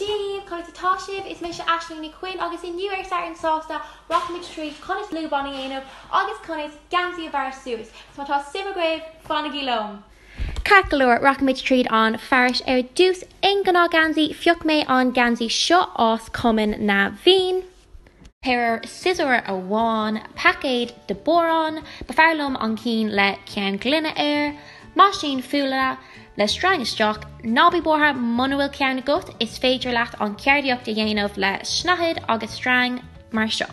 Dia dhaoibh, conas atá sibh? Is mise Aisling Nic Chuinn agus inniu ar Satharn Sásta rachaimid tríd conas lúbán a dhéanamh agus conas geansaí a bhearradh suas, so má tá suim agaibh, fanaigí liom! Ceart go leor, rachaimid tríd an fearais ar dtús. Aon ghnáth-gheansaí, phioc mé an geansaí seo as Cumann na bhFiann. péire siosúr amháin paicéad de biorán ba fearr liom an cinn le ceann gloine air meaisín fuála le sreang isteach ná bí buartha muna bhfuil ceann agat is féidir leat an cheardaíocht a dhéanamh le snáthaid agus sreang mar seo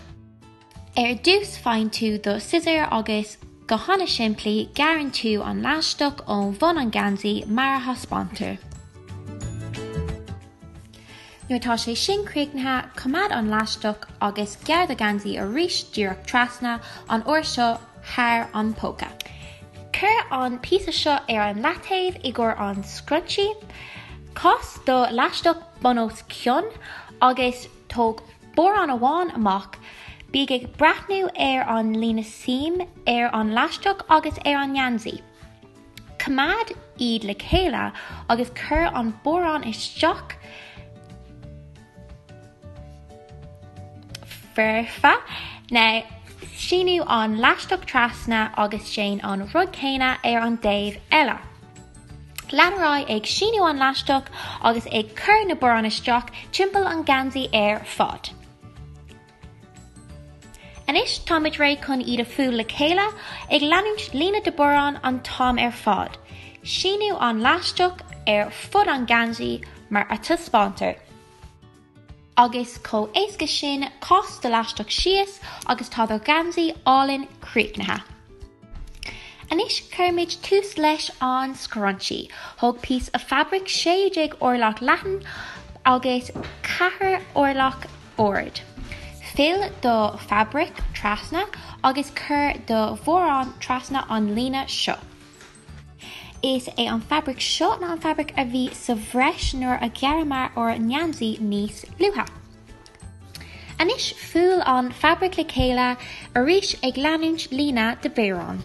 ar dtús faigheann tú do siosúr agus go hana simplí gearrann tú an leaisteach ón bhun an geansaí mar a thaispeántar. Nuair atá sé sin críochnaithe, coimeád an leaisteach agus gearr do gheansaí arís díreach trasna, an uair seo thar an póca. Cuir an píosa seo ar an leataobh i gcomhair an scrunchie. Cas do leaisteach bun os cionn agus tóg biorán amháin amach. Bí ag breathnú ar an líne seam ar an leaisteach agus ar an ngeansaí. Coimeád iad le chéile agus cuir an biorán isteach foirfe. Now, Síniú an leaisteach trasna agus déan an rud céanna ar an dtaobh eile. Lean ar aghaidh ag síniú an leaisteach agus ag cur na biorán isteach timpeall an geansaí ar fad. Anois táimid réidh chun iad a fuáil le chéile, ag leanúint líne de biorán an t-am ar fad, síniú an leaisteach ar fud an gheansaí mar a taispeántar, agus chomh héasca sin, cas do leaisteach síos agus tá do gheansaí álainn críochnaithe. Anois cuirimid tús leis an scrunchie, thóg píosa fabraic 16 orlach leathan agus 4 orlach, ard. Fill do fabraic trasna agus cuir do bhiorán trasna an líne seo. Is é an fabraic seo ná an fabraic a bhí sa bhreis nuair a ghearramar ár ngeansaí níos luaithe. Anois fuáil an fabraic le chéile arís ag leanúint líne de biorán.